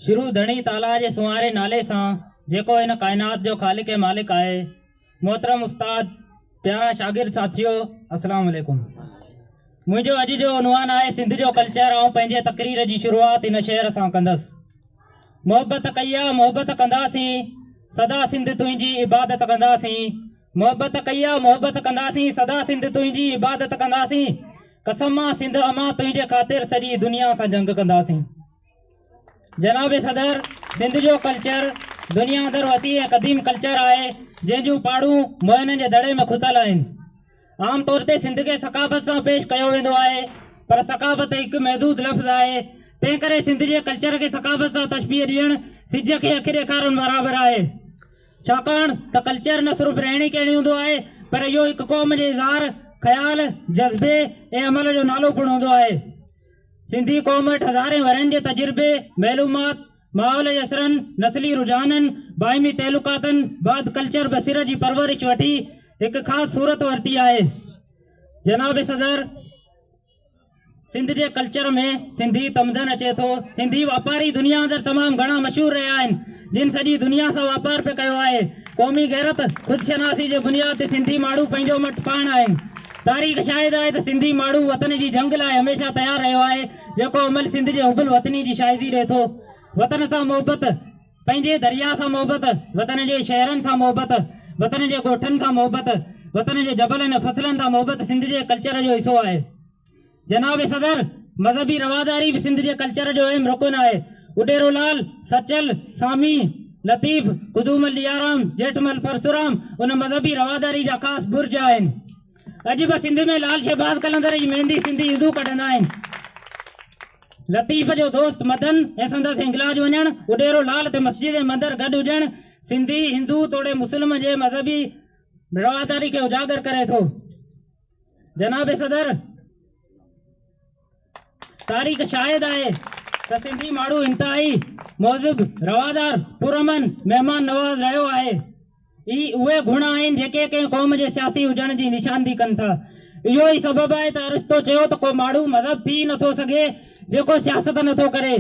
شروع ڌڻي تعاليٰ جي سنواري نالي سان جيڪو هن ڪائنات جو خالق ۽ مالڪ آهي. محترم استاد، پيارا شاگرد ساٿيو السلام عليڪم. منهنجو اڄ جو عنوان آهي سنڌ جو ڪلچر آئون پنهنجي تقرير جي شروعات هن شعر سان ڪندس. محبت ڪئي آ محبت ڪنداسين سدا سنڌ تنهنجي عبادت ڪنداسين. محبت ڪئي آ محبت ڪنداسين سدا سنڌ تنهنجي عبادت ڪنداسين قسم آ سنڌ امان تنهنجي خاطر سڄي دنيا سان جنگ ڪنداسين جناب صدر سنڌ جو ڪلچر دنيا اندر وسيع ۽ قديم ڪلچر آهي جنهن جون پاڙون موهنن جي دڙي ۾ کتل آهن عام طور تي سنڌ کي ثقافت سان پيش ڪيو ويندو آهي پر ثقافت هڪ محدود لفظ آهي تنهن ڪري سنڌ جي ڪلچر کي ثقافت سان تشبيهه ڏيڻ سج کي اک ڏيکارڻ برابر آهي ڇاڪاڻ ته ڪلچر نه صرف رهڻي ڪهڻي هوندو آهي پر اهو هڪ قوم جي اظهار، خيال، جذبي ۽ عمل جو نالو پڻ هوندو آهي. سنڌي قوم وٽ هزارين ورهين جي تجربي، معلومات، ماحول جي اثرن، نسلي رجحانن، باهمي تعلقاتن بعد ڪلچر به سر جي پرورش وٺي هڪ خاص صورت ورتي آهي. جناب صدر! سنڌ جي ڪلچر ۾ سنڌي تمدن اچي ٿو. سنڌي واپاري دنيا اندر تمام گهڻا مشهور رهيا آهن، جن سڄي دنيا سان واپار پي ڪيو آهي. قومي غيرت، خودشناسي جي بنياد تي سنڌي ماڻهو پنهنجو مٽ پاڻ آهن. تاريخ شاهد آهي ته سنڌي ماڻهو وطن جي جنگ لاء هميشه تيار رهيو آهي، جيڪو عمل سنڌ جي حب الوطني جي شاهدي ڏي ٿو. وطن سان محبت. پنهنجي درياء سان محبت، وطن جي شهرن سان محبت، وطن جي ڳوٺن سان محبت، وطن جي جبلن ۽ فصلن سان محبت سنڌ جي ڪلچر جو حصو آهي. جناب صدر، مذهبي رواداري به سنڌ جي ڪلچر جو اهم رڪن آهي. اڏيرو لعل، سچل، سامي، لطيف، قدومل ڏيارام، ڄيٺمل پرسورام ان مذهبي رواداري جا خاص برج آهن. اڄ به سنڌ ۾ لعل شهباز قلندر جي ميندي سنڌي هندو ڪڍندا آهن. لطيف جو دوست مدن ۽ سندس هنگلاج وڃڻ، اڏيرو لال تي مسجد ۽ مندر گڏ هجڻ، سنڌي، هندو توڙي مسلم جي مذهبي رواداري کي اجاگر ڪري ٿو. جناب صدر، تاريخ شاهد آهي ته سنڌي ماڻهو انتهائي مهذب، روادار، پرامن، مهمان نواز رهيو آهي. ئي اهي گڻ آهن جيڪي ڪنهن قوم جي سياسي هجڻ جي نشاندهي ڪن ٿا. اهو ئي سبب آهي ته ارسطو چيو ته ڪو ماڻهو مذهب ٿي ئي نه ٿو سگهي جيڪو سياست نه ٿو ڪري.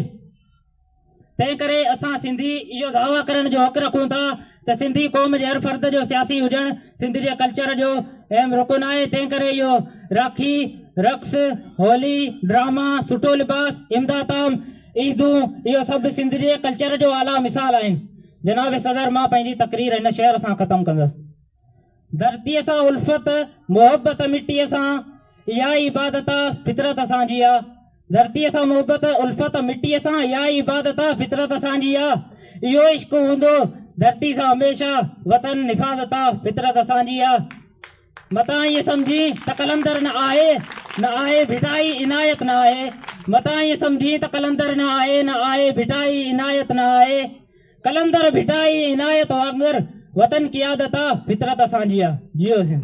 تنهن ڪري اسان سنڌي اهو دعويٰ ڪرڻ جو حق رکون ٿا ته سنڌي قوم جي هر فرد جو سياسي هجڻ سنڌ جي ڪلچر جو اهم رڪن آهي. تنهن ڪري اهو راکي، رقص، هولي، ڊراما، سٺو لباس، امداد عام، عيدون اهو سڀ سنڌ جي ڪلچر جو اعليٰ مثال آهن. جناب صدر مان پنهنجي تقرير هن شعر سان ختم ڪندس. ڌرتيء سان الفت، محبت مٽيء سان، اها ئي عبادت آ، فطرت اسان جي آ. ڌرتيء سان محبت، الفت مٽيء سان، اها ئي عبادت آ، فطرت اسان جي آ. اهو عشق هوندو ڌرتي سان هميشه، وطن حفاظت آ، فطرت اسان جي آ. متان ائين سمجهين ته قلندر نه آهي، نه آهي ڀٽائي عنايت نه آهي، متان ائين سمجهين ته قلندر نه آهي، نه آهي ڀٽائي عنايت نه آهي، قلندر ڀٽائي عنايت وانگر وطن قيادت آ، فطرت اسان جي آ، جيئو سنڌ.